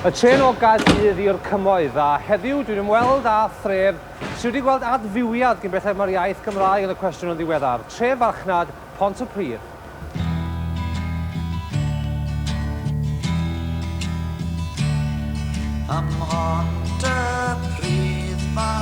Y trên o Gaerdydd i'r Cymoedd, a heddiw dwi'n ymweld â thref sydd wedi gweld adfywiad gyn belled mae'r iaith Gymraeg yn y cwestiwn yn ddiweddar, tref farchnad Pont y Pridd. Am Pont y Pridd fy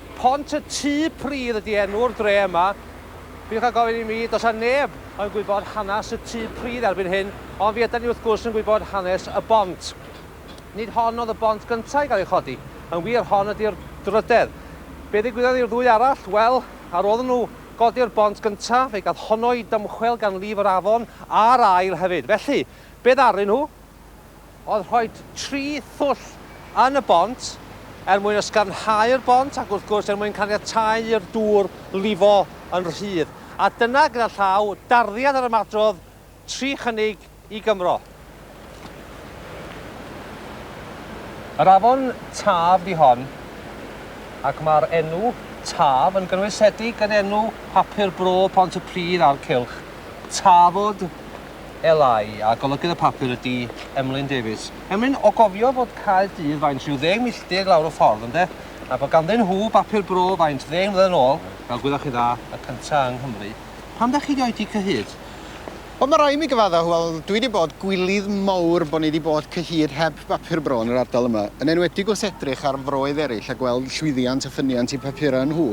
Pont y Tŷ Pridd ydi enw'r dre yma. Peidiwch â gofyn i mi, does 'na neb yn gwybod hanes y Tŷ Pridd erbyn hyn, ond fe ydan ni wrth gwrs yn gwybod hanes y bont. Nid hon oedd y bont gynta' i gael ei chodi, yn wir, hon ydi'r drydedd. Be ddigwyddodd i'r ddwy arall? Wel, ar ôl iddyn nhw godi'r bont gynta', fe gath honno ei dymchwel gan lif yr afon, a'r ail hefyd. Felly, be ddaru nhw? oedd rhoi tri thwll yn y bont er mwyn ysgafnhau'r bont ac wrth gwrs er mwyn caniatáu i'r dŵr lifo yn rhydd. A dyna, gyda llaw, darddiad yr ymadrodd tri chynnig i Gymro. Yr afon Taf di hon, ac mae'r enw Taf yn gynwysedig yn enw papur bro Pont-y-pridd a'r cylch, Tafod, LI, a golygydd y papur ydi Emlyn Davies. Emlyn, o gofio fod Caerdydd faint rhyw ddeng milltir lawr y ffordd, ynde? A bod ganddyn nhw bapur bro faint ddeng mlynedd yn ôl, fel gwyddoch chi dda, y cynta yng Nghymru. Pam da chi di oedi cyhyd? Wel, ma rai' mi gyfadda, wel, dwi di bod gwilydd mowr bo ni di bod cyhyd heb bapur bro yn yr ardal yma, yn enwedig wrth edrych ar froedd erill a gweld llwyddiant a ffyniant i papura nhw.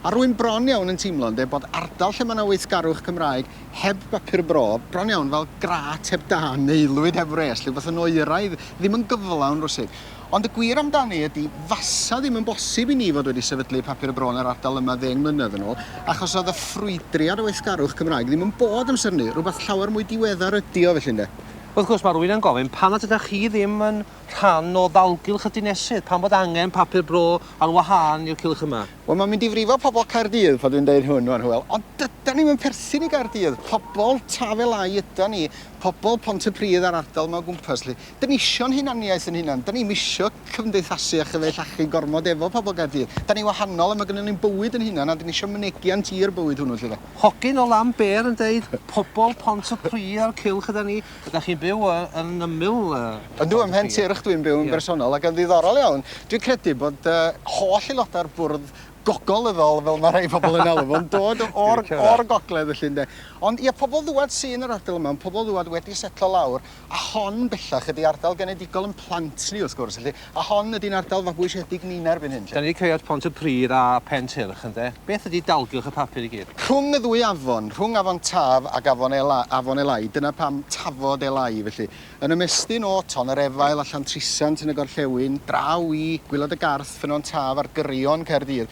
A rwy'n bron iawn yn teimlo, ynde, bod ardal lle ma na weithgarwch Cymraeg heb bapur bro, bron iawn fel grât heb dân, aelwyd heb wres, rhywbeth yn oeraidd, ddim yn gyflawn rywsut. Ond y gwir amdani ydi, fasa ddim yn bosib i ni fod wedi sefydlu papur bro yn yr ardal yma ddeng mlynedd yn ôl, achos oedd y ffrwydriad o weithgarwch Cymraeg ddim yn bod amser 'ny, rhywbeth llawer mwy diweddar ydi o, felly, ynde? Wrth gwrs, mae rhywun yn gofyn, pam nad ydach chi ddim yn rhan o ddalgylch y dinesydd? Pam bod angen papur bro ar wahân i'r cylch yma? Wel, mae'n mynd i frifo pobl Caerdydd pan dwi'n deud hwn rwan, Hywel, ond dydan ni'm yn perthyn i Gaerdydd. Pobl Tafela'i ydan ni, pobl Pontypridd a'r ardal 'ma o gwmpas 'lly. Dan ni isio'n hunaniaeth yn hunan, dan ni'm isio cymdeithasu a chyfeillachyn gormod efo pobl Gaerdydd. Dan ni wahanol a mae gynnon ni'n bywyd yn hunan a dan ni isio mynegiant i'r bywyd hwnnw 'lly de. Hogyn o Lambêr yn deud, pobl Pontypridd a'r cylch ydan ni. Ydach chi'n byw yy yn ymyl yy... Yndw, ym Mhen Tir ydw i'n byw yn bersonol ac yn ddiddorol iawn, dwi'n credu bod yy holl aelodau'r bwrdd gogolyddol fel mae rhai pobl yn alw fo'n dod o'r o'r gogledd felly ynde. Ond ia, pobl ddŵad sy yn yr ardal yma, pobl ddŵad wedi setlo lawr a hon bellach ydi ardal genedigol ein plant ni wrth gwrs felly. A hon ydi'n ardal fabwysiedig ni yn erbyn hyn 'lly. 'Da ni 'di cyraedd Pont y Pridd a Pen Tyrch ynde? Beth ydi dalgylch y papur i gyd? Rhwng y ddwy afon, rhwng Afon Taf ac Afon Ela, Afon Elái, dyna pam Tafod Elái felly, yn ymestyn o Ton yr Efail a Llantrisant yn y gorllewin, draw i Gwilod y Garth, Ffynnon Taf a'r Gyrion, Caerdydd,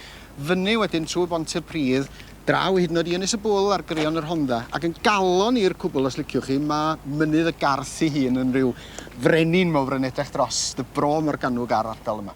fyny wedyn trwy Bont y Pridd, Draw hyd yn oed i Ynys y Bwl ar Greon y Rhondda, ac yn galon i'r cwbl os liciwch chi, mae Mynydd y Garth ei hun yn rhyw frenin mowr yn edrych dros y Bro Morgannwg a'r ardal yma.